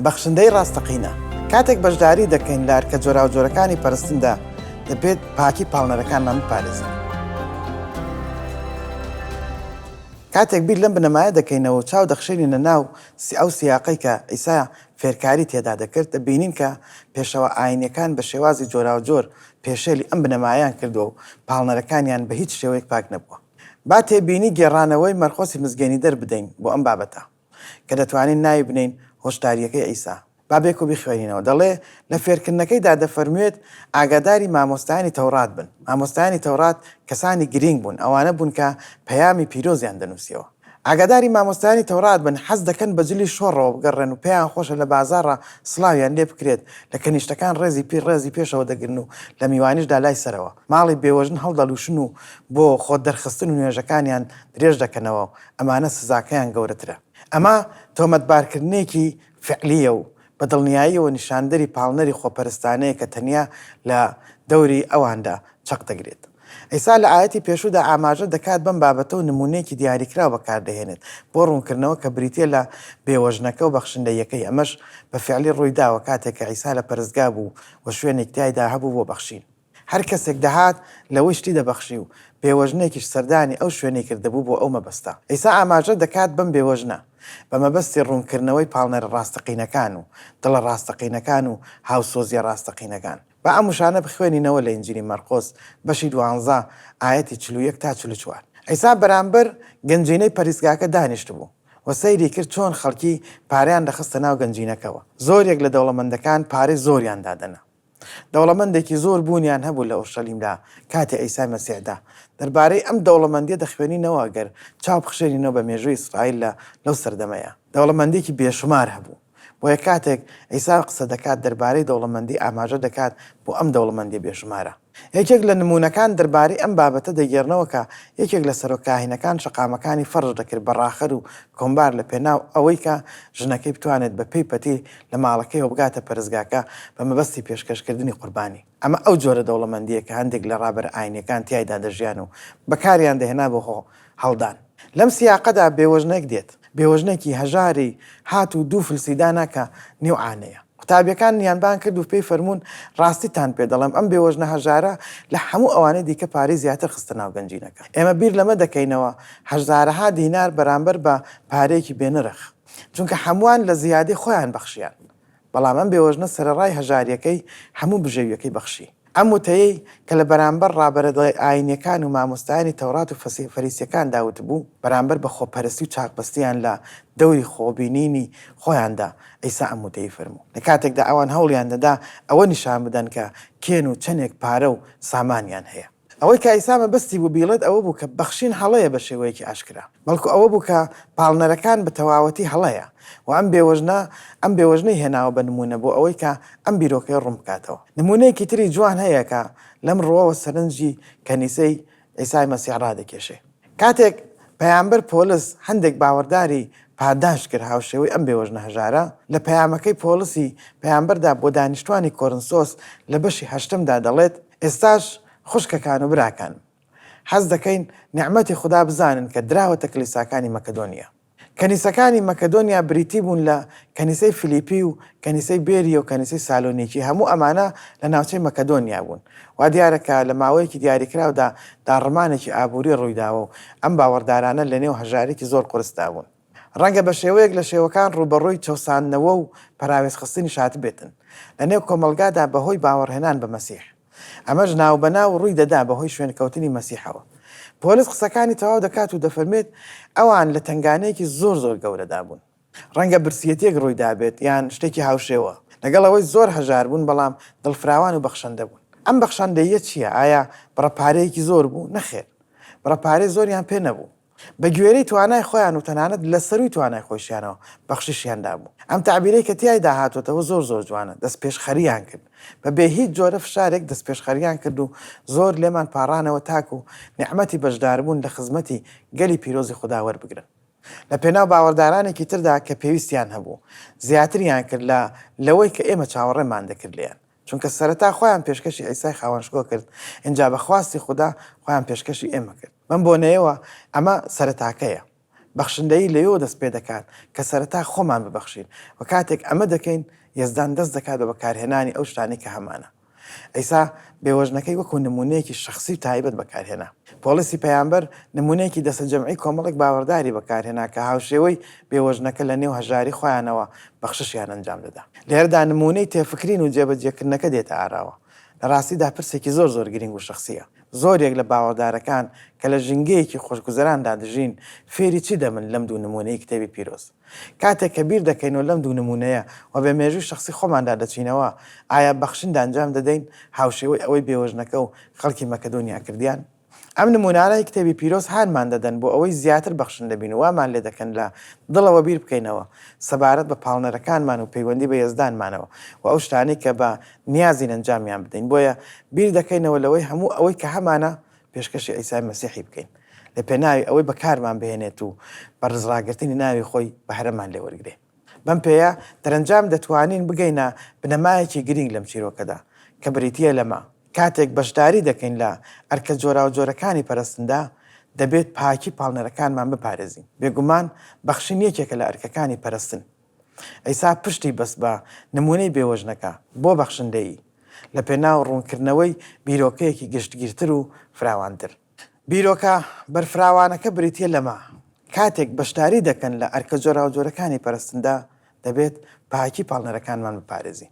بەخشندەی ڕاستەقینە، کاتێک بەشداری دەکەین لە ئەرکە جۆراوجۆرەکانی پەرستندا، دەبێت پاکی پاڵنەرەکانمان بپارێزین. کاتێک بیر لەم بنەمایە دەکەینەوە و چاو دەخشێنینە ناو ئەو سیاقەی کە عیسا فێرکاری تێدا دەکرد، دەبینین کە پێشەوا ئایینییەکان بە شێوازی جۆراوجۆر پێشێلی ئەم بنەمایەیان کردووە و پاڵنەرەکانیان بە هیچ شێوەیەک پاک نەبووە. با تێبینی گێڕانەوەی مەرقۆسی مزگێنیدەر بدەین بۆ ئەم بابەتە. کە دەتوانین ناوی بنێین هۆشدارییەکەی عیسا. با بێکۆ بیخوێنینەوە. دەڵێ، لە فێرکردنەکەیدا دەفەرموێت، ئاگاداری مامۆستایانی تەورات بن. مامۆستایانی تەورات کەسانی گرینگ بوون، ئەوانە بوون کە پەیامی پیرۆزیان دەنووسیەوە. ئاگاداری مامۆستایانی تەورات بن، حەز دەکەن بە جلی شۆڕەوە بگەڕێن و پێیان خۆشە لە بازاڕا سڵاویان لێ بکرێت، لە کەنیشتەکان ڕێزی پیر ڕێزی پێشەوە دەگرن و لە میوانیشدا لای سەرەوە. ماڵی بێوەژن هەڵدەلووشن و بۆ خۆدەرخستن و نوێژەکانیان درێژ دەکەنەوە. ئەمانە سزاکەیان گەورەترە. ئەمە تۆمەتبارکردنێکی فیعلییە و بە دڵنیاییەوە نیشاندەری پاڵنەری خۆپەرستانەیە کە تەنیا لە دەوری ئەواندا چەق دەگرێت. عیسا لە ئایەتی پێشوودا ئاماژە دەکات بەم بابەتە و نموونەیەکی دیاریکراو بەکار دەهێنێت بۆ ڕوونکردنەوە کە بریتییە لە بێوەژنەکە و بەخشندەییەکەی، ئەمەش بە فیعلی ڕووی داوە کاتێک کە عیسا لە پەرستگا بوو و شوێنێک تیایدا هەبوو بۆ بەخشین. هەر کەسێک دەهات لەوەی شتی دەبەخشی و بێوەژنێکیش سەردانی ئەو شوێنەی کردبوو بۆ ئەو مەبەستە. عیسا ئاماژە دەکات بەم بێوەژنە بە مەبەستی ڕوونکردنەوەی پاڵنەرە ڕاستەقینەکان و دڵە ڕاستەقینەکان و هاوسۆزییە ڕاستەقینەکان. با ئەم وشانە بخوێنینەوە لە ئینجیلی مەرقۆس بەشی دوانزە ئایەتی چل و یەک تا چل و چوار. عیسا بەرامبەر گەنجینەی پەریزگاکە دانیشتبوو و سەیری کرد چۆن خەڵکی پارەیان دەخستە ناو گەنجینەکەوە. زۆریەک لە دەوڵەمەندەکان پارەی زۆریان دادەنا. دەوڵەمەندێکی زۆر بوونیان هەبوو لە ئورشەلیمدا کاتی عیسای مەسیحدا. دەربارەی ئەم دەوڵەمەندیە دەخوێنینەوە گەر چاو بخشێنینەوە بە مێژووی ئیسرائیل لە لەو سەردەمەیا. دەوڵەمەندیەکی بێشومار هەبوو. بۆیە کاتێک عیسا قسە دەکات دەربارەی دەوڵەمەندی ئاماژە دەکات بۆ ئەم دەوڵەمەندیە بێشومارە. یەکێک لە نموونەکان دەربارەی ئەم بابەتە دەگێڕنەوە کە یەکێک لە سەرۆک کاهینەکان شەقامەکانی فەرش دەکرد بە ڕاخەر و کۆمبار لە پێناو ئەوەی کە ژنەکەی بتوانێت بە پێی پەتی لە ماڵەکەیەوە بگاتە پەرستگاکە بە مەبەستی پێشکەشکردنی قوربانی. ئەمە ئەو جۆرە دەوڵەمەندییە کە هەندێک لە ڕابەرە ئایینییەکان تیایدا دەژیان و بەکاریان دەهێنا بۆ خۆ هەڵدان. لەم سیاقەدا بێوەژنێک دێت، بێوەژنێکی هەژاری هات و دوو فلسی دانا کە نێو عانەیە. قوتابییەکان نیانبان کرد و پێی فەرموون، ڕاستیتان پێ دەڵێم، ئەم بێوەژنە هەژارە لە هەموو ئەوانەی دیکە پارەی زیاتر خستە ناو گەنجینەکە. ئێمە بیر لەمە دەکەینەوە، هەژزارەها دینار بەرامبەر بە پارەیەکی بێنرخ. چونکە هەمووان لە زیادەی خۆیان بەخشیان، بەڵام ئەم بێوەژنە سەرەڕای هەژارییەکەی هەموو بژێوییەکەی بەخشی. ئەم وتەیەی کە لە بەرامبەر ڕابەرە دڵە ئایینییەکان و مامۆستایانی تەورات و فەریسییەکاندا وتبوو، بەرامبەر بە خۆپەرستی و چاکبەستییان لە دەوری خۆبینینی خۆیاندا، عیسا ئەم وتەی فەرموو. لە کاتێکدا ئەوان هەوڵیان دەدا ئەوە نیشان بدەن کە کێن و چەندێک پارە و سامانیان هەیە. ئەوەی کایسا مەبەستی بوو بیڵێت ئەوە بوو کە بەخشین هەڵەیە بە شێوەیەکی ئاشکرا، بەڵکو ئەوە بوو کە پاڵنەرەکان بە تەواوەتی هەڵەیە و ئەم بێوەژنە ئەم بێوەژنەی هێناوە بە نموونە بۆ ئەوەی کە ئەم بیرۆکەیە ڕوون بکاتەوە. نموونەیەکی تری جوان هەیە کە لەم ڕووەوە سەرنجی کەنیسەی عیسای مەسیح ڕادەکێشێ. کاتێک پەیامبەر پۆلس هەندێک باوەڕداری پاداشت کرد هاوشێوەی ئەم بێوەژنە هەژارە، لە پەیامەکەی پۆڵسی پەیامبەردا بۆ دانیشتوانی کۆرنسۆس لە بەشی هەشتەمدا دەڵێت، ئێستاش خوشکەکان و براکانم، حەز دەکەین نیعمەتی خودا بزانن کە دراوەتە کلیساکانی مەکەدۆنیا. کەنیسەکانی مەکەدۆنیا بریتی بوون لە کەنیسەی فلیپی و کەنیسەی بێریە و کەنیسەی سالۆنیکی، هەموو ئەمانە لە ناوچەی مەکەدۆنیا بوون. وا دیارە کە لە ماوەیەکی دیاریکراودا داڕمانێکی ئابووری ڕووی داوە و ئەم باوەڕدارانە لەنێو هەژاریی زۆر قورسدا بوون. ڕەنگە بە شێوەیەک لە شێوەکان ڕووبەڕووی چەوساندنەوە و پەراوێزخستنیش هاتبێتن لەنێو کۆمەڵگادا بەهۆی باوەڕهێنان بە مەسیح. ئەمەش ناوبەناو ڕووی دەدا بەهۆی شوێنکەوتنی مەسیحەوە. پۆلس قسەکانی تەواو دەکات و دەفەرمێت، ئەوان لە تەنگانەیەکی زۆر زۆر گەورەدا بوون. ڕەنگە برسییەتێک ڕووی دابێت یان شتێکی هاوشێوە. لەگەڵ ئەوەی زۆر هەژار بوون، بەڵام دڵفراوان و بەخشەندە بوون. ئەم بەخشەندەییە چییە؟ ئایا بڕە پارەیەکی زۆر بوو؟ نەخێر. بڕە پارەی زۆریان پێ نەبوو. بە گوێرەی توانای خۆیان و تەنانەت لە سەرووی توانای خۆیشیانەوە بەخششیان دابوو. ئەم تەعبیرەی کە تیایدا هاتۆتەوە زۆر زۆر جوانە، دەستپێشخەرییان کرد. بە بێ هیچ جۆرە فشارێک دەستپێشخەرییان کرد و زۆر لێمان پاڕانەوە تاکوو نیعمەتی بەشداربوون لە خزمەتی گەلی پیرۆزی خودا وەربگرن. لە پێناو باوەڕدارانێکی تردا کە پێویستیان هەبوو، زیاتریان کرد لە لەوەی کە ئێمە چاوەڕێمان دەکرد لێیان. چونکە سەرەتا خۆیان پێشکەشی عیسای خاوەنشکۆ کرد، ئینجا بە خواستی خودا خۆیان پێشکەشی ئێمە کرد. بەم بۆنەیەوە ئەمە سەرەتاکەیە. بەخشندەیی لەوێوە دەست پێدەکات کە سەرەتا خۆمان ببەخشین و کاتێک ئەمە دەکەین یەزدان دەست دەکات بە بەکارهێنانی ئەو شتانەی کە هەمانە. عیسا بێوەژنەکەی وەکو نموونەیەکی شەخسی و تایبەت بەکارهێنا. پۆڵسی پەیامبەر نموونەیەکی دەستەجەمعی کۆمەڵێک باوەڕداری بەکارهێنا کە هاوشێوەی بێوەژنەکە لەنێو هەژاری خۆیانەوە بەخششیان ئەنجام دەدا. لێرەدا نموونەی تێفکرین و جێبەجێکردنەکە دێتە ئاراوە. لە ڕاستیدا پرسێکی زۆر زۆر گرینگ و شەخسییە. زۆرێک لە باوەڕدارەکان کە لە ژینگەیەکی خۆشگوزەراندا دەژین، فێری چی دەبن لەم دوو نموونەی کتێبی پیرۆز؟ کاتێک کە بیر دەکەینەوە لەم دوو نموونەیە و بە مێژووی شەخسی خۆماندا دەچینەوە، ئایا بەخشندانجام دەدەین هاوشێوەی ئەوەی بێوەژنەکە و خەڵکی مەکەدۆنیا کردیان؟ ئەم نموونانەی کتێبی پیرۆز هانمان دەدەن بۆ ئەوەی زیاتر بەخشندە بین و وامان لێ دەکەن لە دڵەوە بیر بکەینەوە سەبارەت بە پاڵنەرەکانمان و پەیوەندی بە یەزدانمانەوە و ئەو شتانەی کە بە نیازین ئەنجامیان بدەین بۆیە بیر دەکەینەوە لەوەی هەموو ئەوەی کە هەمانە پێشکەشی عیسای مەسیحی بکەین لە پێناوی ئەوەی بەکارمان بهێنێت و بە ڕزڕاگرتنی ناوی خۆی بەهرەمان لێ وەرگرێ. بەم پێیە دەرەنجام دەتوانین بگەینە بنەمایەکی گرینگ لەم چیرۆکەدا کە بریتییە لەمە، کاتێک بەشداری دەکەین لە ئەرکە جۆراوجۆرەکانی پەرستندا، دەبێت پاکی پاڵنەرەکانمان بپارێزین. بێگومان بەخشین یەکێکە لە ئەرکەکانی پەرستن. عیسا پشتی بەست بە نموونەی بێوەژنەکە بۆ بەخشندەیی، لەپێناو ڕوونکردنەوەی بیرۆکەیەکی گشتگیرتر و فراوانتر. بیرۆکە بەرفراوانەکە بریتییە لەمە، کاتێک بەشداری دەکەن لە ئەرکە جۆراوجۆرەکانی پەرستندا، دەبێت پاکی پاڵنەرەکانمان بپارێزین.